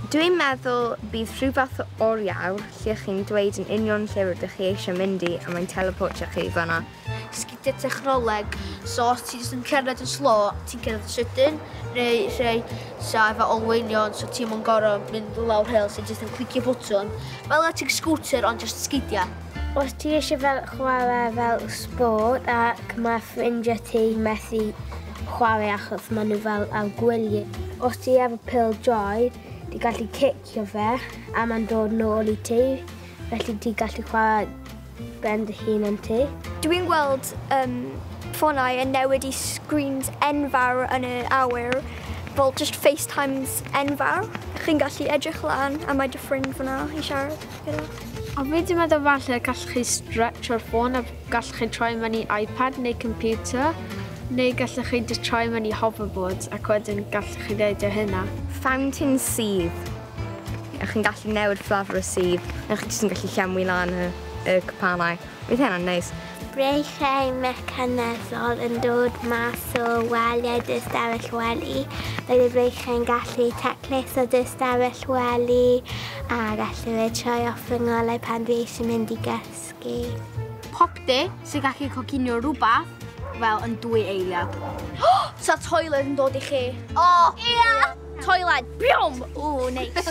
Dwi'n meddwl bydd rhywbeth oriau lle chi'n dweud yn union lle rydych chi eisiau mynd i a mae'n teleportio chi fanna. Sgidiau technoleg, so os ti jyst yn cerdded yn slo, ti'n cerdded yn sydyn, neu rhai sa efo olweinion, so ti'n mwyn gorau mynd lawr hel, so jyst yn clicio bwtwn. Fel ti'n scooter ond jyst sgidiau. Os ti eisiau fel chwarae fel sport ac mae ffrindiau ti methu chwarae achos maen nhw fel ar gwyliau. Os ti efo pil joy, ti gallu cicio fe a mae'n dod nôl i ti, felly ti gallu chwarae ben dy hun yn ti. Dwi'n gweld um, ffonau yn newid i screens enfawr yn y awyr, fel just FaceTimes enfawr. Chi'n gallu edrych lan a mae dy ffrind fyna i siarad. A fi di meddwl falle gallwch chi stretch o'r ffôn a gallwch chi troi mewn i iPad neu computer, neu gallwch chi just troi mewn i hoverboards ac wedyn gallwch chi ddeud o hynna. Fountain sydd, a chi'n gallu newid fflafr y sydd, a chi jyst yn gallu llenwi lan y, y cwpanau. Bydd hynna'n neis. Breichiau mecanegol yn dod mas o waliau dy ystafell wely. Bydd y breichiau'n gallu taclus o dy ystafell wely a gallu fe troi off fy ngolau pan dwi eisiau mynd i gysgu. Popty sy'n gallu coginio rhywbeth fel yn dwy eiliad. Sa toiled yn dod i chi? O! Ia! Toiled! Biom! Ww, neis.